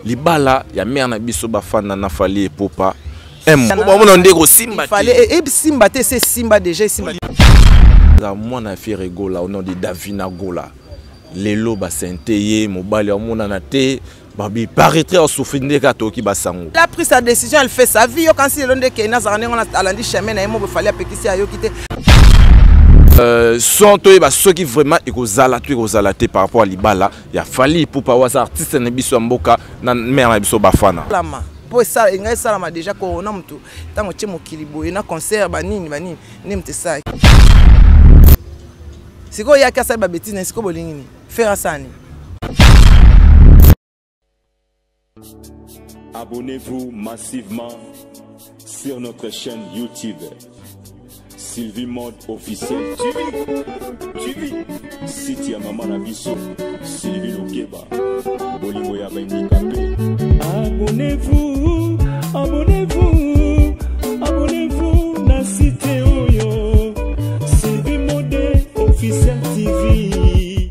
libala ya mère na biso bafanda na fali epopa bamona nde ekosimba esimba te se esimba deja esimba mwana ya fiere gola au nom de davina gola lelo basente ye mobali amonana te babi paraîtrait osouffri nde kaka toyoki basango la pris sa décision elle fait sa vie yokansi lelo nde kei nazalaka ndenge wana alandi chemin na ye moko efali apekisi ayoki te euh, son toyeba soki vraiment ekozala to ekozala te par rapport ya libala ya Fally Ipupa waza artiste na biso ya mboka na mère na biso Bafana lama po esala enga esalama déjà corona mutu tango tie mokili boye na concert ba nini ba nini nde mutu esala sikoyo yaki asali ba bêtise na sikoyo bolingi nini faire asani Abonnez-vous massivement sur notre chaîne YouTube. Sylvie Mode officiel TV. TV. Site ya mama na biso Sylvie Lokeba. Bolingo ya bandikape. Abonnez-vous, abonnez-vous, abonnez-vous na site oyo. Sylvie Mode officiel TV.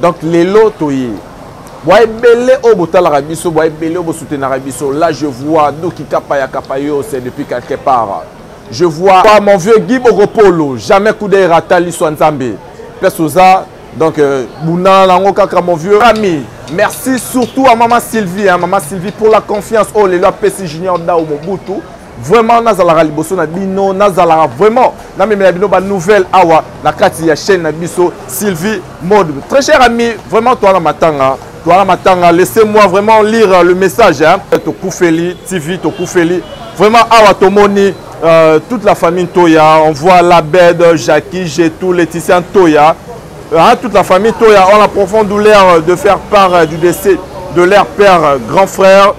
donc lelo toye bwa ebele oyo botalaka biso bwa ebele oyo bosutenaka biso là je vois doki kapa ya kapa yo c'est depuis quelque part je vois pas mon vieux guy bokopolo jamais coup d'œil rata liso ya nzambe place oza donc euh, bundana nango kaka mon vieux ami merci surtout à maman sylvie hein, maman sylvie pour la confiance oyo oh, lelo apesi junior dao mobutu vraiment nazalaka liboso na bino nazalaka vraiment namemela bino banouvelle awa na kati ya chaîne na biso sylvie mode très cher ami vraiment toana matanga toana matanga laissez moi vraiment lire le message hein. tokufeli tv tokufeli vraiment awa tomoni euh, toute la famille toya on voit labed jacqui jetou laetitia toya hein, toute la famille toya on a profonde douleur de faire part euh, du décès de leur père euh, grand frère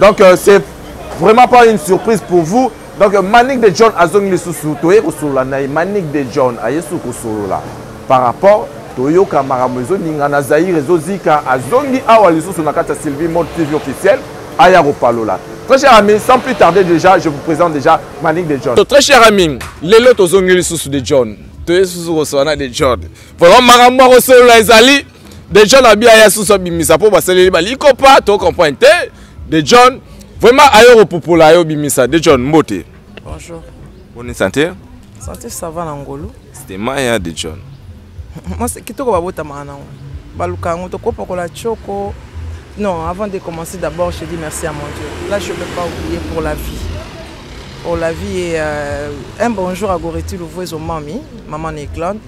donc euh, c'est vraiment pas une surprise pour vous donc euh, manique de john azongi lisusu toye kosolola na ye manique de john aye susu kosolola par rapport toyoka makambo ezoninga na zaire ezozika azongi awa lisusu na kati ya sylvie mode tv officiel aya kopalola très cher ami sans plus tarder déjà je vous présente déjà manique de john so, très cher ami lelo tozongi lisusu de john toye susu kosolola na de john vraiment makambo ya kosolola ezali de john abi aya susu abimisa mpo basaleli balikopa to comprendre te de john vraiment ayo kopupola yo bimisa de john mbote bonjour boni santé santé ça va na ngolu c'était maya de john moi c'est kitoko babotamaka nango baluka yango tokopakola choko non avant de commencer d'abord je dis merci à mon dieu là je peux pas oublier pour la vie pour la vie et euh, un bonjour à goretu louvouezo mami maman na eglande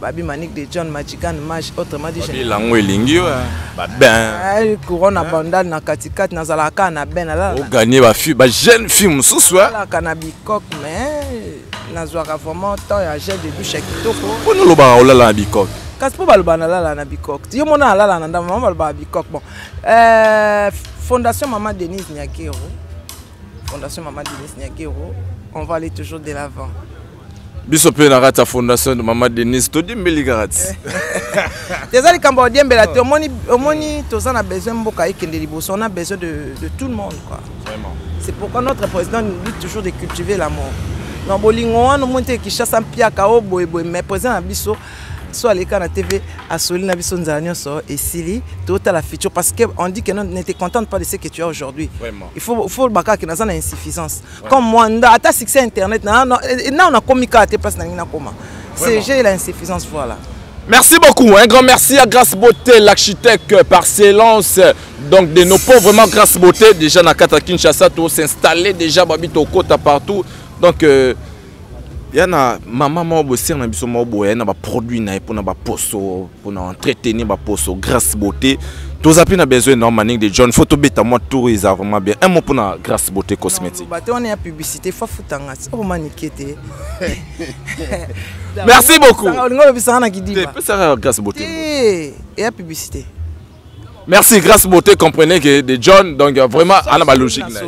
Babi Manick de John Majigan Maj autrement dit Babi lango elingi yo hein. ba ben eh, couronne hein? bandal na katikati nazalaka kaka na ben nazala o gagner ba fille ba jeune fille mosusu hein nazalaka na bikok mais nazwaka vraiment temps ya gel de douche ya kitoko mpo nolobaka olala na bikok kasi mpo baloba nalala na bikok yo mona alala na ndambo mama balobaka bikok bon euh, fondation mama denise niakero fondation mama denise niakero on va aller toujours de l'avant biso mpe na kati ya fondation de mama denise todiembeli kaka ti eza likambo odiembela te omoni omoni toza na besoin mboka ekende liboso on a besoin de, de tout le monde quoi c'est pourquoi notre président nous dit toujours de cultiver l'amour na bolingo wana omoni te kinshasa mpiaka o oh, boyeboye mais président na biso so aleka na tv asoli na biso nzala nyonso esili totala futur parce que on dit que ne te contente pas de ce que tu as aujourd'hui il faut, faut bakaka naza na insuffisance comme moi nda ata succès internet na na na na komi ka te place na ngi na koma c'est j'ai la insuffisance voilà Merci beaucoup, un grand merci à Grace Beauté, l'architecte par silence donc de nos pauvres, vraiment Grace Beauté, déjà Nakata Kinshasa, tout s'installer déjà, Babito Kota partout, donc euh, ya na mama moko bosere na biso moko boye na baproduit na ye mpona baposo mpona entretenir baposo grace beauté toza mpe na besoin na maning de john fo tobeta mwa tour eza vraiment bien un mot mpona grace beauté cosmétique bato wana ya publicité fo afutanga omanike te merci beaucoup olingi olobisaka na kidibapesaka grace beauté ya publicité merci grâce beauté comprenez que de john donc euh, vraiment ana ba logique na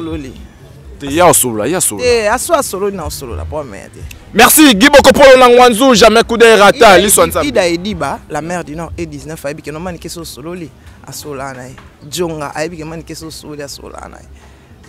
te ya osolola ya solo te aso asololi na osolola po ameya te merci guy bokopolo na ngwanzu jamais kudere ata liso nzambe ida ediba la mère du nord e 19 ayebi ke nomani kesi osololi asolaa na ye jonga ayebi ke mani kesi osololi asolaa na ye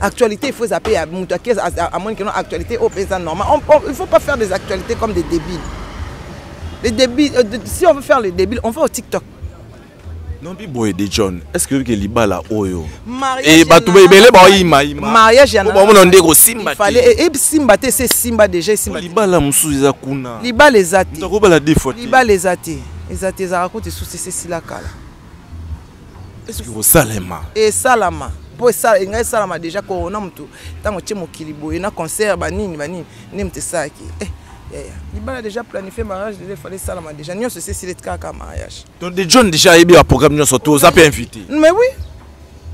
actualité il faut zappe ya moto ake amoni keno actualité oyo mpe eza normal il faut pas faire des actualités comme des débiles les débiles euh, si on veut faire le débile on va au tiktok nombi boye de john est ce que oyoki libala oyo eh, bato ebele baoyimaimabamona nde ekosimba esimba te se esimba deja esimba libala mosusu eza kuna libala eza te libala eza te eza te ezalaka kutu esusu ese esila kala esoki kosalema esalama mpo engai esalama deja korona motu ntango tie mokili boye na concert banini banini nde moto esalaki eh, yaya libala deja planifie mariage deja efale esalama deja nyonso esi esili kaka mariage donc de john deja ayebi baprogramme nyonso to oza mpe invité mais oui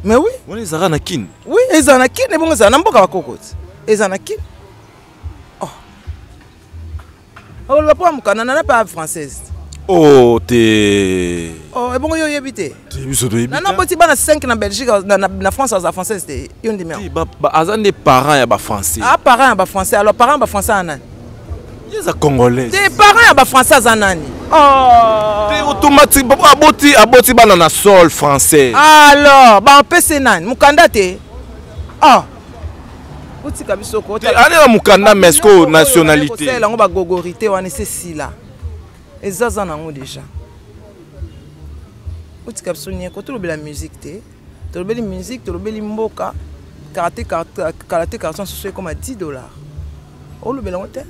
mais oui wana ezalaka na kine oui ezala na kine ebongo ezala na mboka bakokoti ezala na kine oloba mpo ya mokanda nana mpe ya française o oh, te oh, ebongo yo oyebi te biso toyebi nana boti bana 5 na belgique na france aza française te yo ndimi aza nde parent ya bafrançais a ah, parent ya bafrançais alors parent ya bafrançais ya nani eza congolais te parent ya bafrançais aza nani oh. te automatique aboti aboti bana na sol français alors bapese nani mokanda te oh. otika biso koanela mokanda mesco nationalité yango bagogorité wana ese sila ezaza nango déjà otika biso nieko tolobela musique te tolobeli musique tolobeli mboka karate karate karate karate nsusu ekoma 10 dollars olobela yango te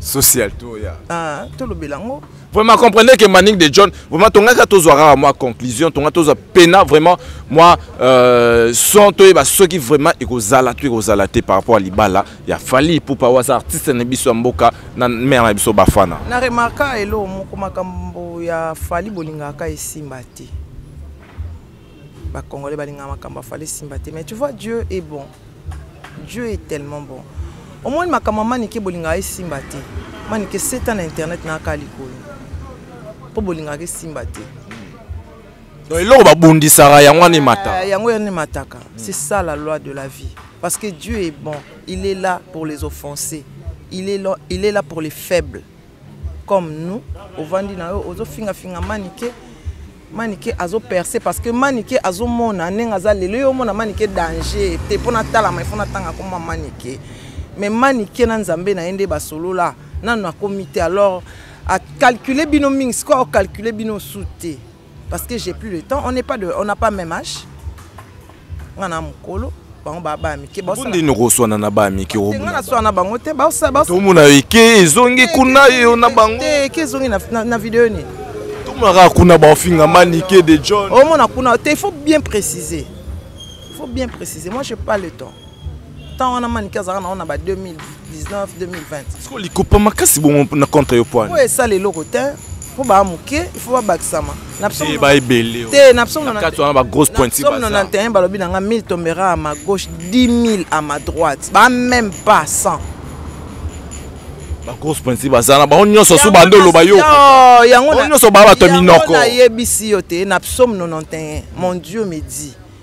social to ya ah, tolobela yango vraiment comprenez que manning de john vraiment tongaka tozwa kaka mwa conclusion tonga tozwa pena vraiment mwa euh, son toyeba soki vraiment ekozala to ekozala te par rapport ya libala ya fali ipupa waza artiste na biso ya mboka na mare na biso bafana na remarka elo moko makambo ya fali bolingaka esimba te ba congolais balinga makambo afale simba te mais tu vois dieu est bon dieu est tellement bon omoni makambo ya manike bolingaka esimba te manike seta na internet nayaka likolo mpo bolingaka esimba te donc eloko babundisaka yango wana emataka eh, yango yana emataka c'est ça la loi de la vie parce que dieu est bon il est là pour les offenser il est là, il est là pour les faibles comme nous ovandi na yo ozofingafinga manike manike azoperce parce que manike azomona ndenge aza lelo yo omona manike danger te mpo natalama ifo natanga akoma manike mais manike na nzambe na ye nde basolola nanu akomi te alors acalcule bino mingi sikoyo acalcule bino su te parce que j'ai plus le temps on n'est pas de on n'a pas même âge nga na mukolo bango ba ba mike ba sala ndino ko swana na ba mike o nga na swana bango te ba sala ba to mona eke ezongi kuna yo na bango te eke ezongi na na video ni to mona ka kuna ba finga manike de John o mona kuna te il faut bien préciser il faut bien préciser moi j'ai pas le temps temps wana manike azalaka nango na ba 2019 2020 siko likopa makasi bongo na contre yo poani oyo esala eloko te mpo baa moke ifo babakisama te na psaume 91 balobi na nga 1000 tombera à ma gauche 10 000 à ma droite ba même pas 100 bagrosse pointi baza na bango nyonso so bande oloba yo yango nyonso baa bato ya minoko nayebisi yo te na psaume 91 mon dieu me dit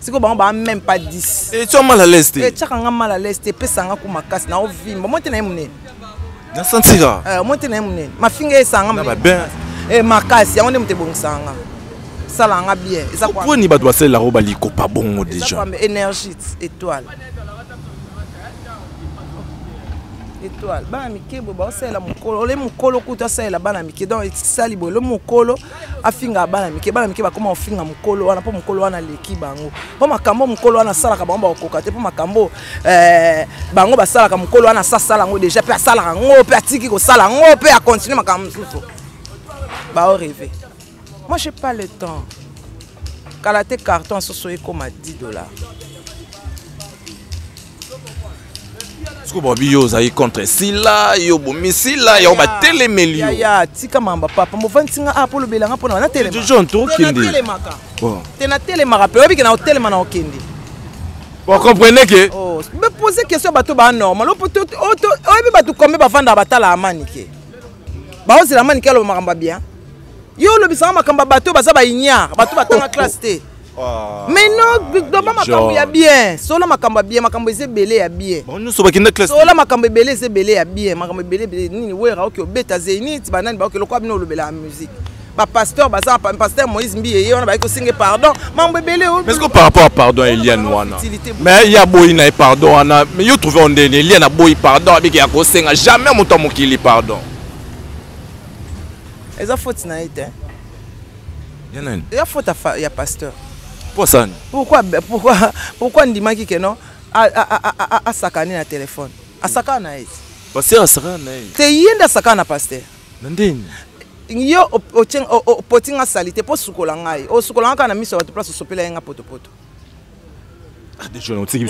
sikoyo bango baa meme pas 10 etya mal à l'aise te etyaka nga mal à l'aise te epesa nga ko makasi na ovimba mwa te na ye monene nasantika eh, mwa te na ye monene mafinga esanga eh, makasi yango nde moto ebongisaka nga sala nga bien ezaponi bato basalela yango balikopa bongo déjà énergie étoile étoile bana mike boye baosalela mokolo ole mokolo kutu asalela bana mike donc esali boye ole mokolo afinga bana mike bana mike bakoma kofinga mokolo wana mpo mokolo wana aleki bango mpo makambo mokolo wana asalaka bango bakokoka te mpo makambo eh, bango basalaka mokolo wana asasala yango deja mpe asalaka yango mpe atiki kosala yango mpe akontinue makambo mosusu bao reve moi j'ai pas le temps kala te carton soso ekoma 10 dollars siko babi yo ozali contre sila yo bomi sila yango batelemeli yo ya tika mamba papa mofandisi nga apo ah, olobela nga mpona natelemajon tokendetelemaka te natelemaka mpe oyebike na otelema na okende ocomprenez ke oh, me pose question bato ba normal oyebi bato kombe bafandaka batala amani ke baozela amani ke aloba makambo ya bien yo olobisaka makambo ya bato baza baignare bato batanga classe te Ah, mais non doba makambo ya bien solo makambo ya bien makambo eza ebele ya bien nyonso bakenda classe solo makambo ebele eza ebele ya bien makambo ebele ebele nini wera oki obeta zenit banani baoki lokola bino olobelaka musique bapasteur baza pasteur moïse mbiye ye wana bayaki kosenga pardon mambo ebele oh. mais par rapport à pardon ya eliane wana mais ye aboyi na ye pardon wana mais yo trouve ondeni eliane aboyi pardon abiki ya kosenga jamais moto ya mokili pardon eza foti na ye te ya nani ya faute ya pasteur mpo asani pourquoi pourquoi pourquoi ndimaki ke non asakani na telefone asakana na ye pasteur asakana na ye te ye nde asakana na pasteur na ndeni yo opoti nga sali te mpo osukola ngai osukola nga kaka na miso ya bato place osopela ye nga potopoto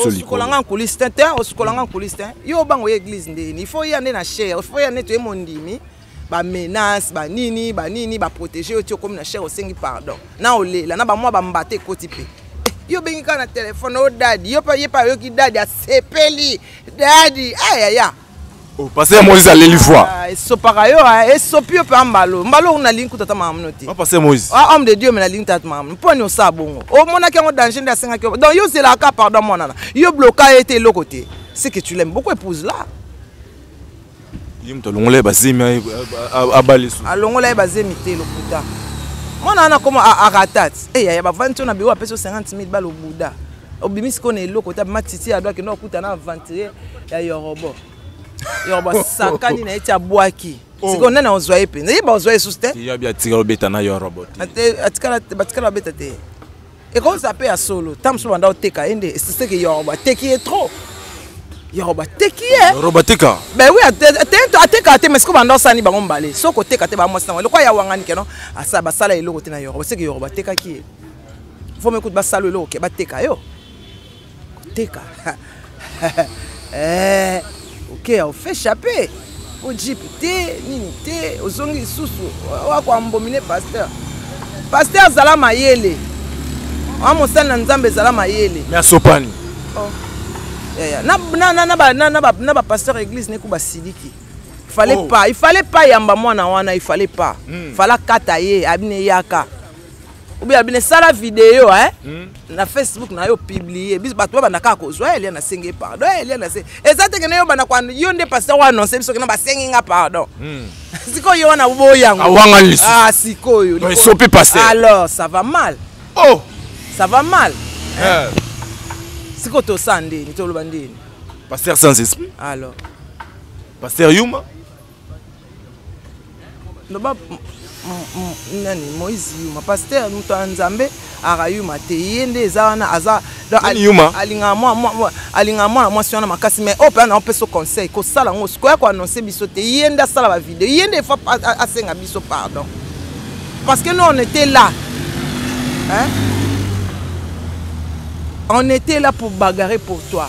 osukola nga nkulisi te te osukola nga nkulisi te yo obanga oye eglise ndeni il faut oya nde na chere il faut oya nde toye mondimi ba menace ba nini ba nini ba protéger yo ti okomi na chere osengi pardon na olela na bamwa bambata ekoti mpe eh, yo obengi kaka na telefone o oh, dadi yo ye mpe ayoki dadi asepeli dadi ayaya ah, oh, pase moïse aleli foi ah, esopaka yo ah, esopi yo mpe ya mbalo mbalo oyo nalingi kuta ata makamno te pase moïse homme de dieu me nalingi tata makamno mpo ni osala bongo omonaki yango danger nde asengaki yo donc yo ozelaka pardon mwanana yo bloka ye te eloko te ce que tu l'aime beaucoup épouse là ye moto alongola ye bazemi abala esu alongola ye bazemi te lokuta mwana wana koma aratat eya eh, ya bavandi nso na biro apesi o 50 mil bala obuda obimi sikoyo na eloko te abima titi ado akenda okuta na aventurier ya yorobo yorobo asakani na ye ti abwaki oh. sikoyo nani ozwa ye mpenza yeba ozwa ye susu te atikala obeta na yorobo te batikala babeta te ekozala mpe ya solo ntango mosusu banda oteka ye nde esiseke yoro bateki ye trop yoro bateki ye yoro bateka ben oui ateka te mais siko banda osani bango mbale soki koteka te bamwasi nango eloko ya wangani keno asala basala eloko te na yoro baseke yoro batekaki ye fo mekuti basala eloko ke bateka yo koteka eh, okeya ofe chape o jipe te nini te ozongi lisusu wakoambomine pasteur pasteur azala mayele wa mosali na nzambe ezala mayele me asopani oh. yeah, yeah. na bapasteur ya église neku basiliki fallait oh. pas il fallait pas yamba mwana wana il fallait pas mm. fala kata ye abine yaka obi abine sala video eh? mm. na facebook na yo publie biso bato babanda kaka kozwa eh, elia nasengi pardon eh, elia nase eza teke na yo banda kwa yo nde pasteur wa annonce biso kena basengi nga pardon mm. sikoyo yo wana oboyi yango awanga lisu ah, sikoyo esopi pasteur alors ça va mal oh ça va mal eh. eh. sikoyo tosa ndeni toloba ndeni pasteur sans esprit alors pasteur yuma loba nani moïse yuma pasteur moto ya nzambe aka yuma te ye nde eza wana aza alingaka mwana mwasi wana makasi mai oyo mpena naopesa conseil kosala yango sikoya koannonce biso te ye nde asala bavideo ye nde efa asenga biso pardon parce que nous on était là hein? on était là pour bagarre pour toi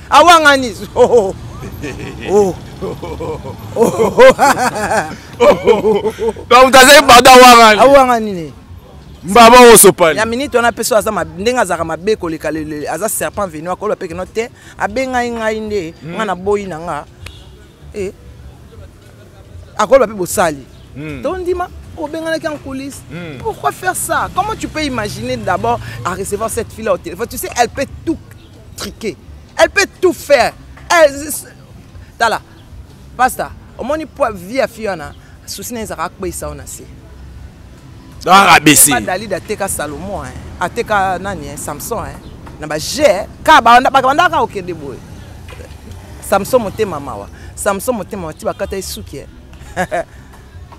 awangani oh. Oh. donc azali bada awangani awangani ne mbaba oyo osopani ya miniti wana mpe so aza ndenge azalaka mabe koleka aza serpent venu akoloba mpe keno te abengai ngai nde hmm. ngai naboyi na nga eh. akoloba mpe bosali hmm. tondima obenganaki en coulisse hmm. pourquoi faire ça comment tu peux imaginer d'abord à recevoir cette fille là au téléphone tu sais elle peut tout triquer elle peut tout faire elle tala pasta omoni po vie ya fille wana susi na ezalaka akpeisa yo na se arabesi dalide ateka salomon ateka nani samson na baje ka bakabandaka kokende boye samson motema mawa samson motema mawa ti bakata ye suki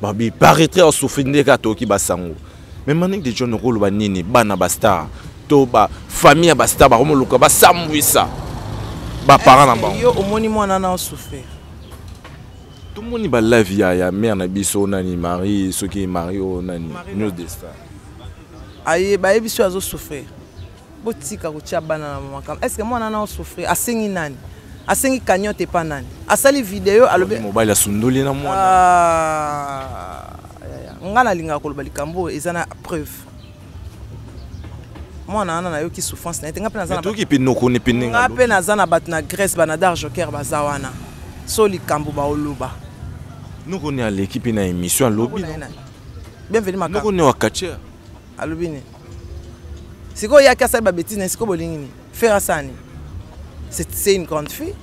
babi paretre ya souffrir nde kaka toyoki basango mais manik de john okoloba nini bana bastar to bafamille ya bastar bakomoluka basambwisa baparent na bango yo omoni mwana na osouffrir tomoni balive ya, ya mare na biso nani marie soki marie oyo nani news de star aye bayebisi oyo azosouffrir botika kotia bana na makambo est ce que mwana na osouffrir asengi nani asengi cagnote epa nani asali video alobi mobali asundoli na mwana ah, ngai nalingaka koloba likambo oyo eza na preuve mwana wana nayoki souffrance na ye te ngai mpe naza na bato na grèce banadar joker baza wana so likambo baoloba nokoni aleki mpe na émission alobi bienvenu makakoni wa catcher alobi nini sikoyo yaki asali babetise na sikoyo bolingi nini fere asala nini c'est une grande fille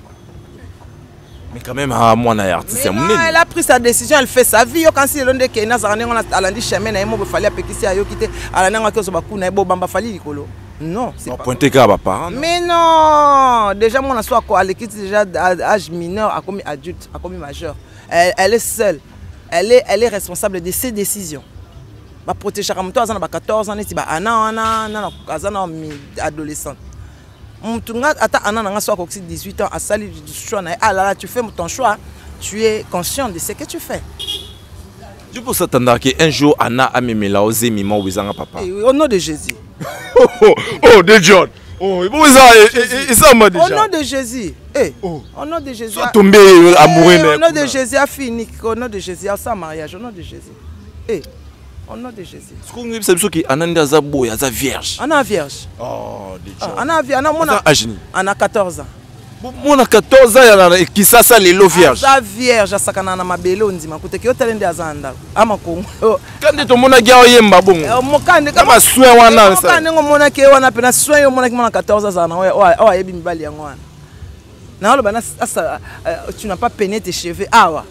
mais quand même ah, mwana ya artiste ya monene elle a pris sa décision elle fait sa vie yokansi lelo nde kena azalaka ndenge wana alandi chemin na ye moko efali apekisi ayoki te alandi yango akozo baku na ye bobamba fali likolo non pointe kaka baparent mais non déjà mwana so alekisi déjà âge mineur akomi adulte akomi majeur elle, elle est seule elle est, elle est responsable de ses décisions ba protegeaka moto aza na ba 14 ans neti ba ana wana nana aza na adolescent motu nga ata ana na nga so akokisi 18 ans asali choix na ye alala ah tu fais ton choix tu es conscient de ce que tu fais tu peux s'attendre qu'un jour ana amemela o zemi ma obezanga papa eh au nom de jésus oh, oh, oh de john Oh, bon, ça, et, et, ça m'a déjà. Au nom de Jésus. Eh, oh. Au nom de Jésus. Sois tombé amoureux. Eh, au nom de Jésus, a fini. Au nom de Jésus, a sa mariage. Au nom de Jésus. Eh, au nom de Jésus. Siko ngi bisa biso ki ananda aza boy aza vierge. Ana vierge. Oh, de ah, Ana vierge, ana mona. Ajini. Ana 14 ans. mona 14 ans ya kisasa lelo vierge aza vierge asakana na mabele ondima kuteke yo tale nde aza na ndako ama kongo ka nde tomonaki awa yemba bongo eh, mokande ka basoin wana eh, ndenge omonaki ye wana mpena soin yo omonaki mwana 14 azala na oyo ayebi mibali yango wana naoloba tu na pas pene tes cheveux awa ah,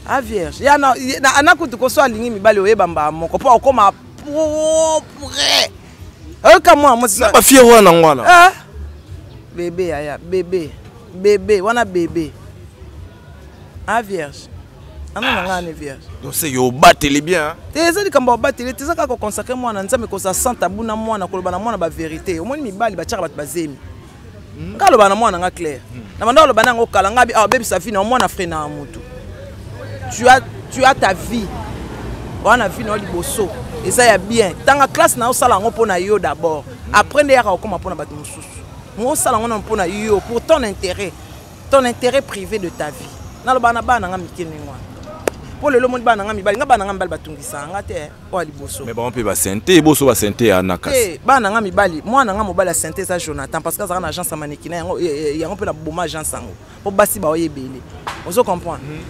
a ah, vierge ya na, na, ana kutu koso alingi mibali oyeba mbaa moko mpo okoma propre oyoka mwa mosina bafiere wana yango wana ah. bebe yaya bebe bebe wana bebe a ah, vierge ana na ngai ne vierge donc se yo obateli bien te eza likambo obateli te eza kaka koconsacre mwana nzambe kozala santa abuna mwana koloba na mwana baverité omoni mibali batyaka bato bazemi hmm. nga aloba na mwana nga claire hmm. na banda aloba na yango kala nga abebisa ah, vie na mwana fre na motu tu as, tu as ta vie oa na vie na yo liboso eza ya bien ntanga classe na yo osala yango mpo na yo d'abord après nde yaka okoma mpo na bato mosusu mo osala yango na mpo na yo pour ton intérêt ton intérêt privé de ta vie naloba na bana na nga mike ndenge wana mpo lelo omoni bana na nga mibali nga bana na nga mibali batungisa nga te oyo liboso mais bango mpe basente boso basente ya na kasi eh, bana nga mibali mwana nga mobali ya sente eza jonathan parce que azalaka na agence ya manekina yango eh, eh, yango mpe na boma agence yango mpo basi baoye ebele ozo comprendre mhm.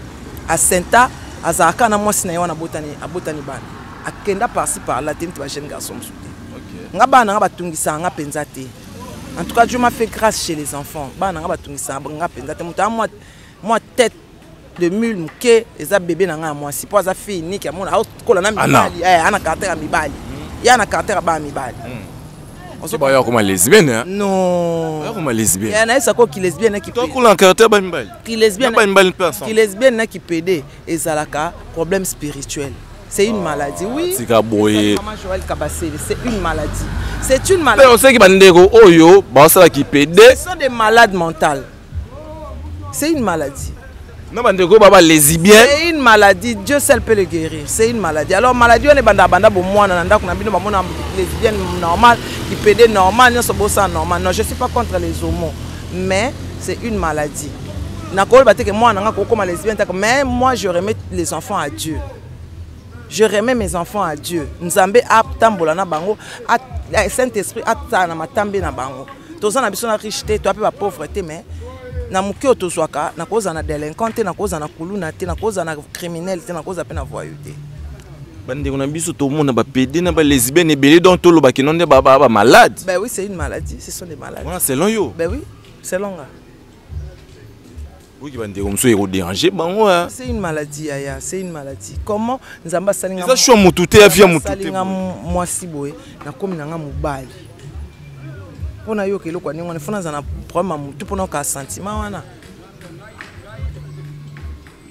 asenta azalaka na mwasi na ye wana abotani bana akenda parci par la te neti bajeune garçon mosusu te nga bana nga batungisaka nga mpenza te en tout cas dieu m'a fait grâce chez les enfants bana nga batungisaka nga mpenza te moto a mwa tete de mule moke eza bebe na ngai ya mwasi mpo aza fille niki amona akola na mibali eh, ana caractère ya mibali ye ana caractère ya bana mibali hmm. bayo akoma lesbienne hein? non akoma lesbienne ya nayesa ko ki lesbienne na kitokola caractère ba mibali ki lesbienne ba mibali mpe ensemble ki lesbienne na ki pede ezalaka problème spirituel c'est une maladie oui ah, tika boye Joël Kabasele c'est une maladie c'est une maladie mais on sait que bandeko oyo basala ki pede ce sont des malades mentales c'est une maladie na bandeko baba lesibien c'est une maladie dieu seul peut le guérir c'est une maladie alors maladie wana ebanda banda bomwana na ndako na bino bamona lesbienne normal lipede normal nyonso bosala normal non je suis pas contre les homo mais c'est une maladie nakoloba te ke mwana nanga kokoma lesbienne taka mais moi je remets les enfants à dieu je remets mes enfants à dieu nzambe atambola na bango eh, saint esprit atala na matambe na bango toza na biso na riche te toya mpe bapauvre te mais na moke oyo tozwaka nakozala na délinquant te nakozala na kuluna te nakozala na criminel te nakozala mpe na voyou te bandeko na biso tomona bapede na balesbienne ebele donc toloba kino nde bamalade ben oui c'est une maladie ce sont des malades wana selon yo ben oui selon nga oyoki bandeko mosusu ekoderange bango c'est une maladie yaya c'est une maladie comment nzambe asalingaeza sho motu te ya via motualinga mwasi boye nakomi na nga mobali mpo nayoka eloko ya ndenge wana fo nazala na problème ya motu mpo nayoka sentiment wana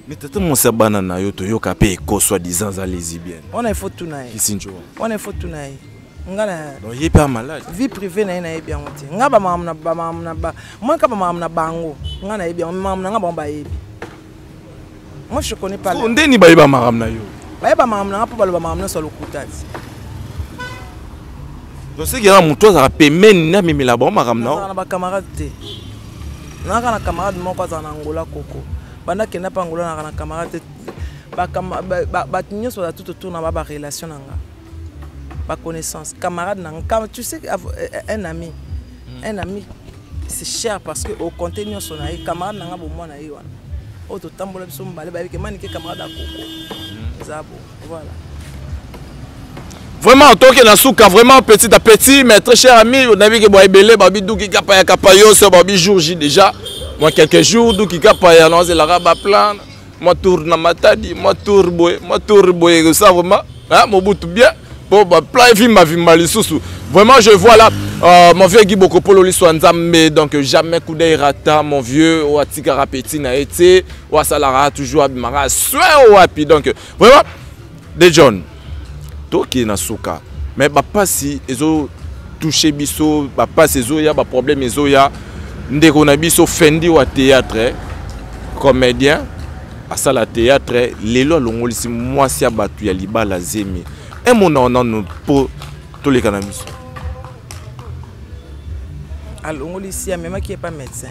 Mais tata mwasi ya bana na yo toyoka mpe eko soit disant aza lesbienne. Wana ifo tuna ye. Kisinjo. Wana ifo tuna ye. Nga na Donc ye mpe amalade. Vie privée na ye nayebi yango te. Nga ba makambo na ba makambo na ba moi kaka ba makambo na bango. Nga nayebi yango makambo na nga bango bayebi. Moi je connais pas. So ndeni bayeba makambo na yo. Bayeba makambo na nga mpo baloba makambo nyonso ya lokuta te. Donc c'est que moto azalaka pembeni na mimela bango makambo na yo. Na ba camarades te. Naka na camarade moko azala na Angola koko. banda kenda mpe angolanaka na camarade bato nyonso baza tout autour na ba barelation na nga baconnaissance camarade na nga tu sais un ami hmm. un ami c'est cher parce que oconte nyonso na ye camarade na nga bomwa na ye wana oyo totambola biso mobale bayebi ke manike camarade akoko hmm. eza bo vraiment otoke na suka vraiment petit à petit mais très cher ami onayebi ke bwa ebele babi duki kapa ya kapa yoso babi jour j déjà mwa quelques jours duki kapa ya naozelaka baplan mwa tour na matadi mwa tour boye mwa tour boye kosa vraiment mobutu bien mpo baplan evimba vimba lisusu vraiment je vois là euh, mon vieux guy bokopolo liso ya nzambe donc jamais coup d'œil rata mon vieux oyo atikaka petit na ye te oyo asalaka toujours abimaka soin wapi donc vraiment de john tokende na suka mais bapasi ezo touche biso bapasi ezoya baproblème ezoya ndeko na biso fendi wa théâtre eh, comédien asala théâtre lelo alongolisi mwasi ya bato ya libala zemi emona onano mpo toleka na biso alongolisi amemaki epa médecin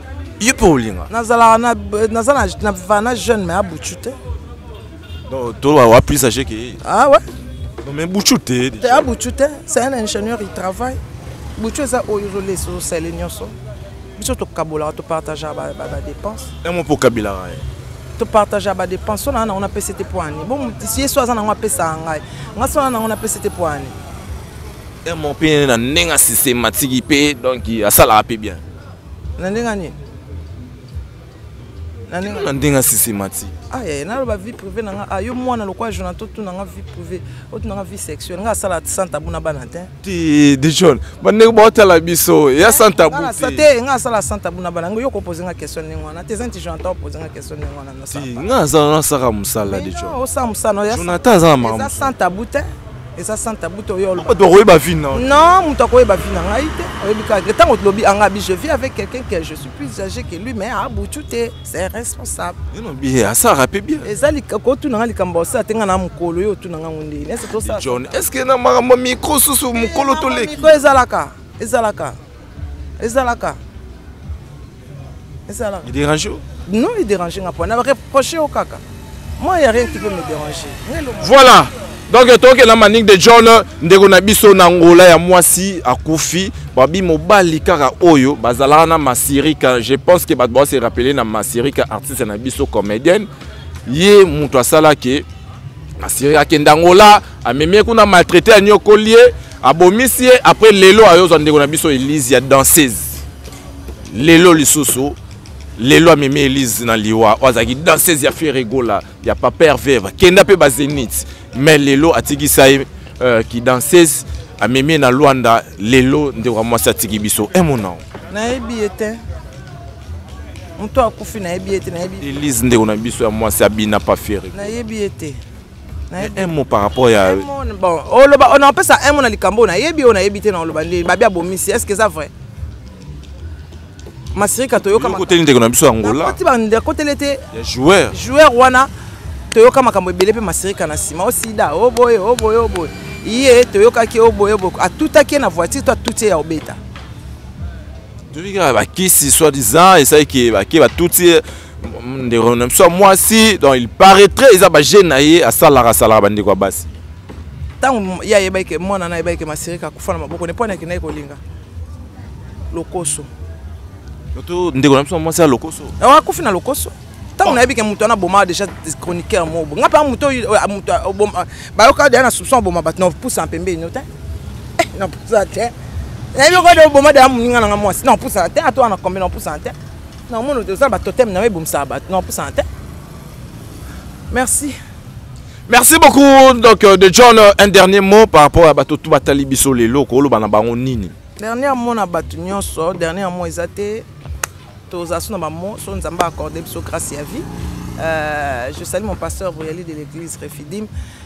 yo mpe olinga nazalaka naza na vana jeune mais abucu te toloba wa plus age ke ye ah ouais non mais bucu te te abucu te c'est un ingénieur il travaille bucu eza oyo ozolesa osali nyonso biso tokabolaka topartagea badépense yango mpo okabilaka ye topartagea badépense so naa nango napesi te mpo ani bon ye so aza nango apesaka ngai ngai so naa nango napesi te mpo ani emo mpe na ndenge asystematique mpe donc asalaka mpe bien na ndenge nini na ndenge ya systématique aye ah, naloba vie privée na nga ah, yo mwana lokola jona totuna nga vie privée otuna nga vie sexuelle nga asala santa buna bana te ti de john bandeko baotala biso ya eh, santa bu te nga asala santa buna bana yo kopose nga question ndenge wana te zinti jonathan opose nga question ndenge wana nga azala nasaka mosala de john osala mosala jonathan aza na makambo santa bu te eza santa buta oyolbato akoyeba vi na non moto akoyeba vi na ngai te oyebi kaka ntango tolobi anga abi je vis avec quelqu'un que je suis plus âgé que lui mais abutu te c'est responsable enobi asara mpe bien eza kotuna nga likambo osala te nga na mokolo yo otuna ngango ndeni ese tosala john est ce que na makambo mikro susu mokolo toleki ezalaka ezalaka ezalaka ezalaka dérange non il dérange nga pona reproche yo kaka moi ya rien qui peut me déranger voilà donc tokela manik de john ndeko na biso na ngola ya mwasi akufi babi mobali kaka oyo bazalaka na masirika je pense que bato base rappele na masirika artiste na biso comédienne ye moto asalaki masirika akenda ngola amemi kuna maltraite anyokoli ye abomisi ye après lelo ayozwa ndeko na biso elise ya danseuse lelo lisusu lelo amemi elise na liwa oyo azalaki danseuse ya ferregola ya papa herve bakenda mpe bazenit mais lelo atikisa ye euh, kidanseuse amemi ye na lwanda lelo ndeko ya mwasi atiki biso emonao eh, nayebi ye te moto akufi nayebi ye te nayebi elise ndeko na biso ya mwasi abina pa ferre nayebi ye te un mot par rapport ya bon oloba on appelle ça un mot na likambo na yebi on yebi te na oloba nde babi abomisi est-ce que ça vrai masirika toyoka koteli ndeko na biso ya ngola koti bande kotele te ya joueur joueur wana toyoka makambo ebele mpe masirika na nsima osida oboye oboye oboye ye toyokaki oboye oboye atutaki ye na voiture to atuti ye ya obeta toyokaka bakisi soi disant esalaki bake batuti ndeko na biso ya mwasi donc il paraîtrait eza baje na ye asalaka asalaka bandeko ya basi ntango ye ayebaki ke mwana na ayebaki ke masirika akufa na maboko ne mpo anaki naye kolinga lokoso to ndeko na biso mwasi ya lokoso eh, akufi na lokoso ntango nayebi ke moto wana abomaka déjà chroniqueur moko ngai mpa moto bayokaka deja na soupçon aboma bato na pusa mpembeni no te eh, na pusa te nayebi okode oboma deja moninga na ngai mwasi na pusa te atoa na kombe na pusa te na omona oza na batoteme na yo ebomisaka bato na opusana te merci merci beaucoup donc euh, de john euh, un dernier mot par rapport ya bato tu batali biso lelo kooloba na bango nini dernier mot na bato nyonso dernier mot eza te tozala so na bamo so nzambe accorde biso grâce ya vie euh, je sali mon pasteur royali de l'église refidim